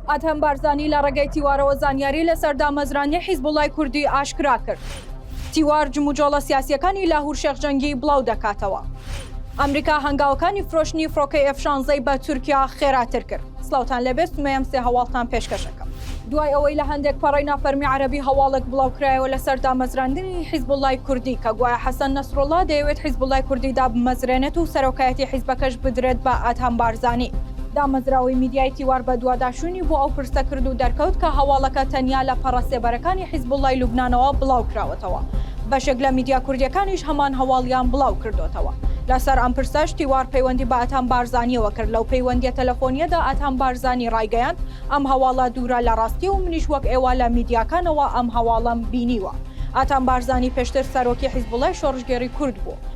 ئادهەم بارزانی لە ڕێگەی تیوارەوە زانیاری لەسەر دامەزرانی حیزبوڵای کوردی ئاشکرا کرد. تیوار جموجۆڵە سیاسییەکانی لاهور شێخ جەنگی بڵاو دەکاتەوە. ئەمریکا هەنگاوەکانی فرۆشتنی فڕۆکەی ئێف شانزەی بە تورکیا خێراتر کرد. سڵاوتان لێبێت سمەیەم سێ هەواڵتان پێشکەش ئەکەم. دوای ئەوەی لە هەندێک پەڕەی نافەرمی عەرەبی هەواڵێک بڵاوکرایەوە لەسەر دامەزراندنی حیزبوڵای کوردی کە گوایە حەسەن نەسروڵڵا دەیەوێت حیزبوڵای کوردی دابمەزرێنێت و سەرۆکایەتی حیزبەکەش بدرێت بە ئادهەم بارزانی، دامەزراوەی میدیای تیوار بەدواداچوونی بۆ ئەو پرسە کرد و دەرکەوت کە هەواڵەکە تەنیا لە پەڕە سێبەرەکانی حیزبوڵڵای لوبنانەوە بڵاوکراوەتەوە، بەشێک لە میدیا کوردییەکانیش هەمان هەواڵیان بڵاوکردۆتەوە. لەسەر ئەم پرسەش تیوار پەیوەندی بە ئەتان بارزانییەوە کرد، لەو پەیوەندییە تەلەفۆنییەدا ئەتان بارزانی ڕایگەیاند، ئەم هەواڵە دوورە لە ڕاستی و منیش وەک ئێوە لە میدیاکانەوە ئەم هەواڵەم بینیوە. ئەتان بارزانی پێشتر سەرۆکی حیزبوڵڵای شۆڕشگێڕی کورد بوو.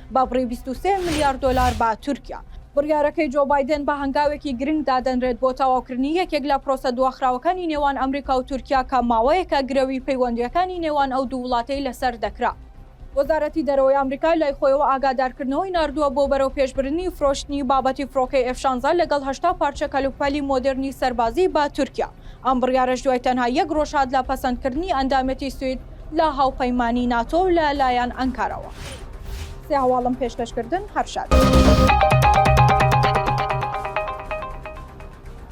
بە بڕی بیست و سێ ملیار دۆلار بە تورکیا. بڕیارەکەی جۆ بایدن بە هەنگاوێکی گرنگ دادەنرێت بۆ تەواوکردنی یەکێک لە پرۆسە دواخراوەکانی نێوان ئەمریکا و تورکیا کە ماوەیەکە گرەوی پەیوەندییەکانی نێوان ئەو دوو وڵاتەی لەسەر دەکرا. وەزارەتی دەرەوەی ئەمریکا لای خۆیەوە ئاگادارکردنەوەی ناردووە بۆ بەرەوپێشبردنی فرۆشتنی بابەتی فڕۆکەی ئێف شانزە لەگەڵ هەشتا پارچە کەلوپەلی مۆدێرنی سەربازی بە تورکیا. ئەم بڕیارەش دوای تەنها یەک ڕۆژ هات لە پەسەندکردنی ئەندامێتی سوید لە هاوپەیمانی ناتۆ و لە لایەن ئەنکارەوە سێ هەواڵم پێشکەشکردن هەر شاد.